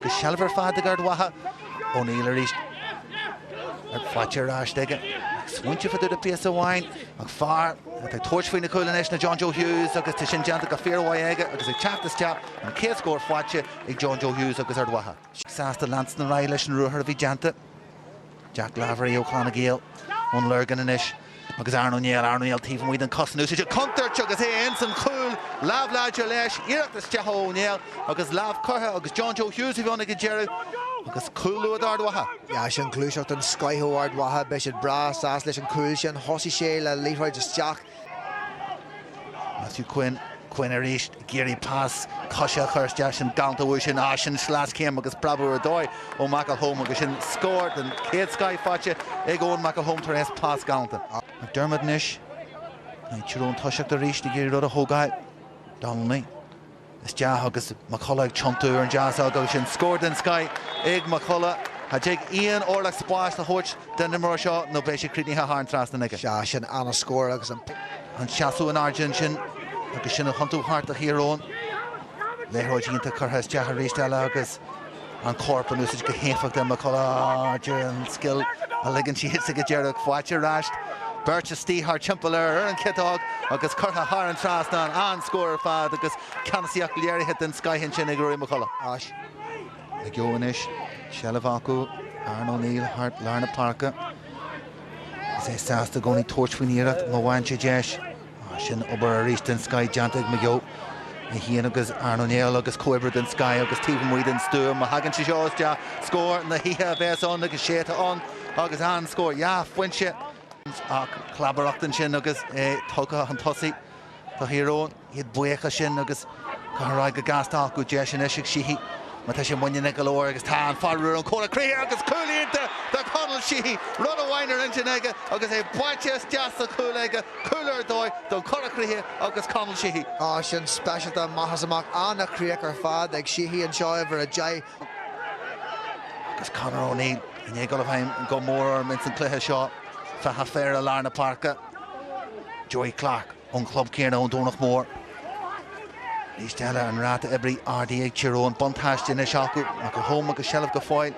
Go seilbh ar fad ag Ard Mhacha. O'Neill arís. Faighte ar ais aige. Ag smaointeamh do phíosa amháin. An fear atá ag tabhairt faoin chúl anois ná John Joe Hughes agus tá sin déanta go fíormhaith aige agus ag teacht isteach, an chéad scór faighte ag John Joe Hughes agus Ard Mhacha. Sásta leanstan ar aghaidh leis an ruathar a bhí déanta. Jack Lavery ó Chlanna Gael ón Lorgain anois agus Aaron O'Neill, Aaron O'Neill taobh amuigh den chos in úsáid ag contúirt agus é ins an chúl, lámh láidir leis, iarracht isteach ó O'Neill agus lámh curtha agus John Joe Hughes a bhí ann ag an deireadh agus cúl luath d'Ard Mhacha. Yeah, sin gluaiseacht den scoith ó Ard Mhacha, beidh siad breá sásta leis an gcúl sin. Thosaigh sé le liathróid isteach. Matthew Quinn, Quinn arís ag iarraidh pas coise a chur isteach, sin galánta uaidh sin, á sin sleaschéim agus preabadh ar dóigh ó McElholm agus sin scór den chéad scoith faighte ag Eoin McElholm tar eis pas galánta. McDermott anois, Tír Eoghain ag toiseacht arís ag iarraidh rud a thógáil. Donnelly. isteach agus McCullagh ag tiontú ar an deasóg, sin scór den scoith ag McCullagh. Cha dtig aon orlach spáis a thabhairt don imreoir seo nó beidh sé críochnaithe thar an trasnán aige. Sea, sin an-scór agus an. An seasamh in airde ansin agus sin a thiontú thart do Thír Eoghain. Liathróid iontach curtha isteach arís eile agus. an corp in úsáid go héifeachtach, McCullagh deir an scil a ligeann sí thit sí go díreach faighte ar ais, beirt istigh thart timpeall air ar an chiotóg agus curtha thar an trasnán, an-scór ar fad agus ceannasaíocht léirithe den scoith ansin ag Ruairí McCullagh. McGeough anois seilbh acu, Aaron O'Neill thart lár na páirce agus é sásta i gcónaí tabhairt faoin iarracht má bhfaigheann sé deis. Ah, sin obair arís den scoith déanta ag McGeough. É féin agus Aaron O'Neill agus comhoibriú den scoith agus taobh amuigh den stua má thagann sé seo isteach. Scór na hoíche a bheas ann agus is é atá ann agus an-scór. Dhá phointe ach clabaireacht ansin agus é tugtha chun tosaigh do Thír Eoghain. Iad buíoch as sin agus. Curtha ar aghaidh go gasta agus deis anois ag Sheehy má tá sé muiníneach go leor agus tá an fear ón Chorr Chríochach agus cúl iontach do Conall Sheehy. Rud amháin ar intinn aige agus é báite isteach sa chúl aige, cúl ar dóigh don Chorr Chríochach agus Conall Sheehy. Á sin speisialta amach is amach an-chríoch ar fad ag Sheehy anseo uimhir a deich. Agus Conor O'Neill i ndiaidh dul i bhfeidhm go mór orm ins an cluiche seo, feadh a phéire lár na páirce, Joey Clarke. ón chlub céanna ón Domhnach Mór. Arís eile an ráta oibre ardaithe ag Tír Eoghain. Buntáiste anois acu, McElholm agus seilbh go fóill.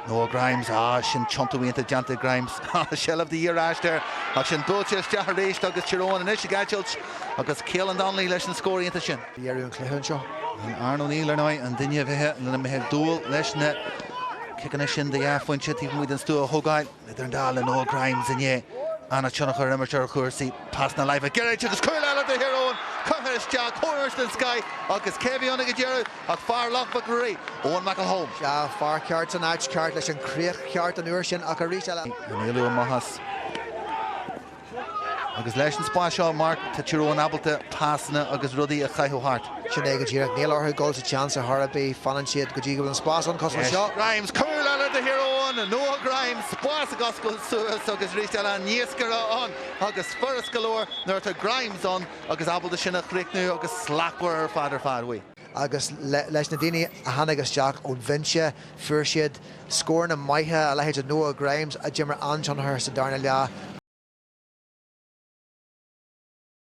Noah Grimes, á sin tiontú iontach déanta ag Grimes. Á seilbh de dhíth aríst air, ach sin buailte isteach aríst agus Tír Eoghain anois ag eitilt agus Caolan Donnelly leis an scór iontach sin. Léiriú an cluiche anseo. Aaron O'Neill ar ndóigh an duine a bheidh lena mbeifeá ag dúil leis na ciceanna sin de dhá phointe taobh amuigh den stua a thógáil. Idir an dá linn, Noah Grimes ansin, an-tionchar a imirt ar chúrsaí. Pas na láimhe gairid agus cúl eile do Thír Eoghain curtha isteach, crosáil sa sky agus cé a bhí ina dheireadh ach fear Loch Mhic Ruairí, Eoin McElholm. Sea, fear ceart san áit cheart leis an gcríoch cheart an uair sin ach arís eile. An éalú ó Mhattie. Agus leis an spás seo, Mark, tá Tyrone ábalta pasanna agus rudaí a chaitheamh thart. Sin é go díreach. Níl orthu dul sa tseans ar chor ar bith. Fanann siad go dtí go bhfuil an spás ann cosúil leis seo. Grimes, cúl eile do Thyrone! Noah Grimes, spás ag oscailt suas agus arís eile níos fearr ann agus furast go leor nuair atá Grimes ann agus ábalta sin a chríochnú agus slachtmhar ar fad ar fad uaidh. Agus leis na daoine a tháinig isteach ón bhinse, fuair siad scóranna maithe, a leithéid de Noah Grimes, a d'imir an-tionchar sa darna leath,